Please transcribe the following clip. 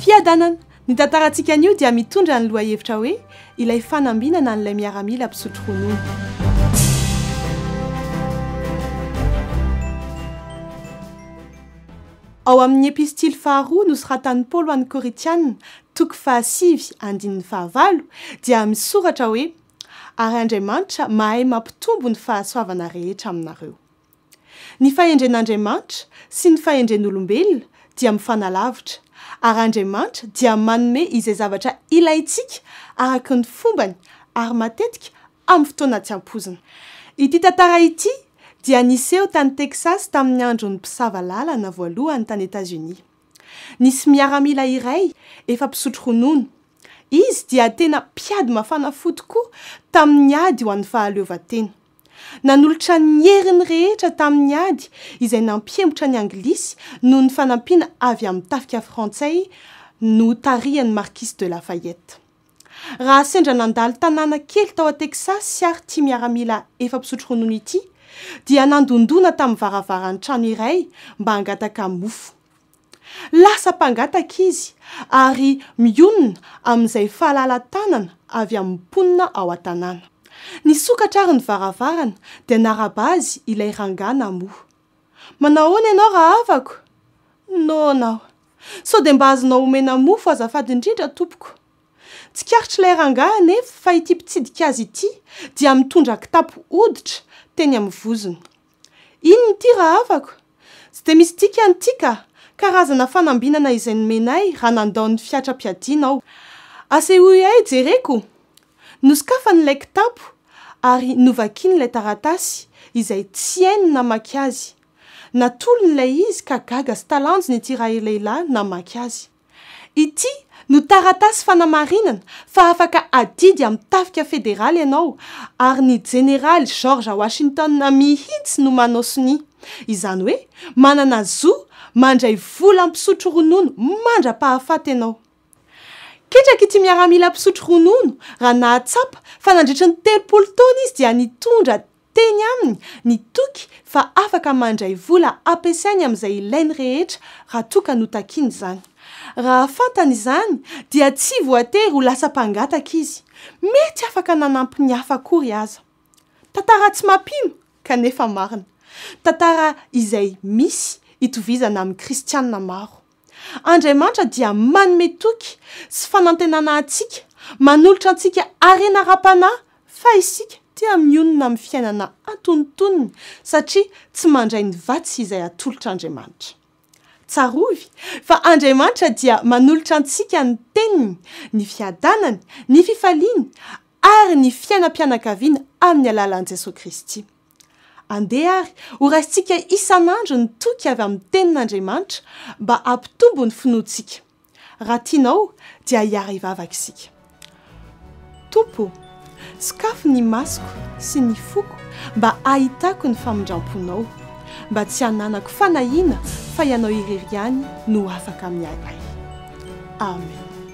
Fiadanana! Ny tantarantsika anio dia mitondra ny lohahevitra hoe Ilay fanambinana an'ilay miaramila mpisotro ronono. Ao amin'ny Epistily faharoa nosoratan'i Paoly ho an'ny Korintiana, toko fahasivy, andininy fahavalo, dia misoratra hoe Ary Andriamanitra mahay mampitombo ny fahasoavana rehetra aminareo. Ny fahendren'Andriamanitra sy ny fahendren'olombelona dia mifanalavitra, ary Andriamanitra dia manome izay zavatra ilaintsika araka ny fombany ary matetika amin'ny fotoana tsy ampoizina. Ity tantara ity dia niseho tany Texas tamin'ny andron'ny mpisava lalana voalohany tany Etazonia. Nisy miaramila iray efa mpisotro ronono. Izy dia tena mpiady mafana fo tokoa tamin'ny ady ho an'ny fahaleovantena. Nanolotra ny heriny rehetra tamin'ny ady izay nampihemotra ny Anglisy noho ny fanampiana avy amin'ny tafika frantsay notarihan'i Marquis de Lafayette. Raha sendra nandalo tanàna kely tao Texas àry ity miaramila efa mpisotro ronono ity, dia nandondona tamin'ny varavaran'ny trano iray mba hangataka mofo. Lasa mpangataka izy ary mionona amin'izay fahalala-tanana avy amin'ny mponina ao an-tanàna. Nisokatra ary ny varavarana dia naraba azy ilay rangahy namoha. Manao ahoana ianao rahavako? Noana aho. Sao dia mba azonao omena mofo azafady indrindra tompoko? Tsikaritr'ilay rangahy anefa fa ity mpitsidika azy ity dia mitondra kitapo hoditra teny amin'ny vozony. Inona ity rahavako? Tsy dia misy dikany ity ka! Karazana fanambinana izay nomenay raha nandao ny fiatram-piadiana aho. Asehoiay jereko! Nosokafany ilay kitapo ary novakiny ilay taratasy izay tsy hainy ny namaky azy. Natolony ilay izy ka gaga sy talanjona ity ralehilahy namaky azy. Ity no taratasy fanamarinana fa afaka adidy amin'ny tafika federaly ianao ary ny Jeneraly George Washington mihitsy no manao sonia. Izany hoe manana zo mandray vola mpisotro ronono mandra-pahafaty ianao. Ketraky ity miaramila mpisotro ronono raha nahatsapa fa nandritry ny telopolo taona izy dia nitondra Teny aminy ny toky fa afaka mandray vola ampiasainy amin'izay ilainy rehetra raha toa ka notakiny izany. Raha fantany izany dia tsy voatery ho lasa mpangataka izy, mety afaka nanampy ny hafa akory aza. Tantara tsy mampino kanefa marina. Tantara izay misy itovizana amin'ny kristiana maro. Andriamanitra dia manome toky sy fanantenana antsika, manolotra antsika harena ara-panahy fa isika dia mionona amin'ny fiainana antonintoniny satria tsy mandray ny vatsy izay atolotr'Andriamanitra. Tsarovy fa Andriamanitra dia manolotra antsika ny teniny, ny fiadanany, ny fifaliany ary ny fiainam-pianakaviana amin'ny alalan'i Jesoa Kristy. Andeha àry horaisintsika isan'andro ny toky avy amin'ny Tenin'Andriamanitra mba hampitombo ny finoantsika. Raha tianao, dia hiara-hivavaka isika. Tompo ô, sokafy ny masoko sy ny foko mba hahitako ny famindram-ponao, mba tsy hananako fanahiana fa ianao irery ihany no afaka miahy ahy. Amen.